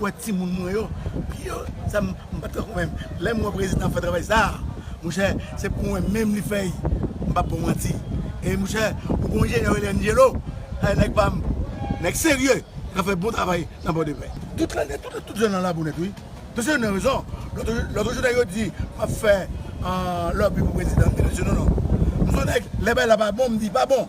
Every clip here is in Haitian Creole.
Ou wè timoun mwen yo, pye sa m pa t kankou menm. Lè m wè prezidan fè travay sa a, monchè se pou mwen menm li fè i, m pap ba w manti. E monchè, ou gen yon enjenyè yo rele Angelo, e nèg pa m, nèg serye k ap fè bon travay nan Pòdepè. Tout lane, tout jèn lan labou nèt wi. Paske yo gen rezon. Lòt jou nèg yo di m ap fè lòbi pou prezidan, m di mesye non non. M se yon nèg, lè bagay la pa bon, m di pa bon.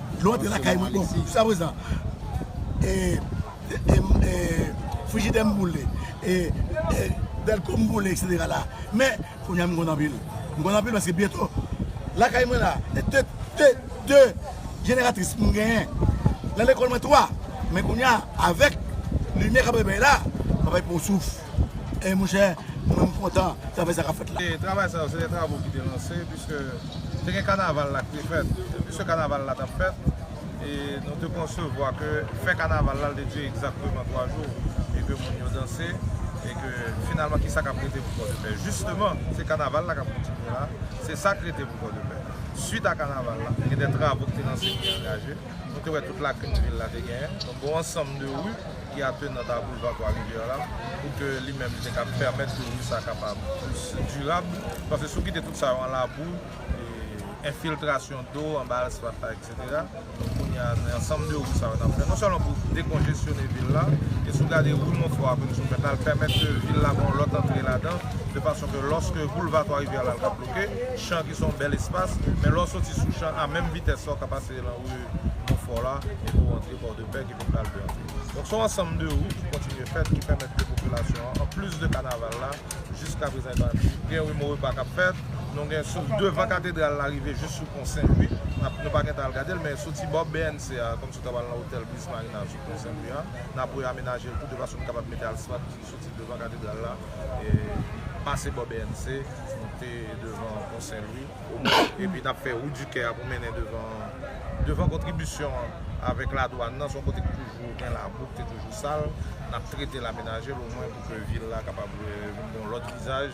Dlo antre lakay mwen bon jiska prezan frijidè m boule dèlko m boule eksetera la men kounya m kontan anpil m kontan anpil paske byento lakay mwen la te 2 jeneratris m genyen nan lekòl mwen 3 men kounya avèk limyè k ap bay bay la m ap bay pou yon souf. Ey monchè nou menm kontan travay sa kap fèt la. Travay sa yo se de travo ki te lanse puiske te gen kanaval la ki te fèt puiske kanaval la tap fèt e nou te konsevwa ke fè kanaval la te dire egzakteman 3 jou e ke moun yo danse e ke finalman kisa kap rete pou pòdepè jisteman se kanaval la kap kontinye la se sak rete pou pòdepè suit a kanaval la gen de travo ki te lanse ki te angaje. Nou te wè tout lakrim vil la te genyen. Donk gon ansanm de ri ki atenant a boulva twa rivyè la pou ke li menm li te kab pèmèt ke ri sa kapab plis dirab. Paske si w kite tout sa yo an labou, enfiltrasyon do anba asfalt la eksetera. Donk kounye a se ansanm de ri sa yo nan fè. Non sèlman pou dekonjesyone vil la. E si w gade ri Monfò a menm si w fè nal pèmèt ke vil la gon lòt antre ladan. De fason ke lòske boulva twa rivyè la li pap bloke. Chan ki se yon bèl espas. Men lè w soti sou chan a menm vitès la w ka pase. Se lan ri Monfò la, depi w antre Pòdepè ki vin pral de antre. Donk son ansanm de wout ki kontinye fèt ki pèmèt ke popilasyon an, anplis de kanaval la, jiska prezan e pa vini. Gen ri Morepa k ap fèt, nou gen sou devan katedral la rive jis sou pon Sen Lwi, n ap nou pa gen tan al gade l, men soti bò BNC a, kòm si w ta pral nan otèl Briz Marina sou pon Sen Lwi a, n ap wè amenaje l tou de fason nou kapab mete asfalt ki soti devan katedral la, pase bò BNC, moute devan pon Sen Lwi. Epi n ap fè wout di kè a pou mennen devan kontribisyon an avèk ladwàn nan. Se yon kote ki toujou gen labou, ki te toujou sal. N ap trete l, amenaje l omwen pou ke vil la kapab gen yon lòt vizaj.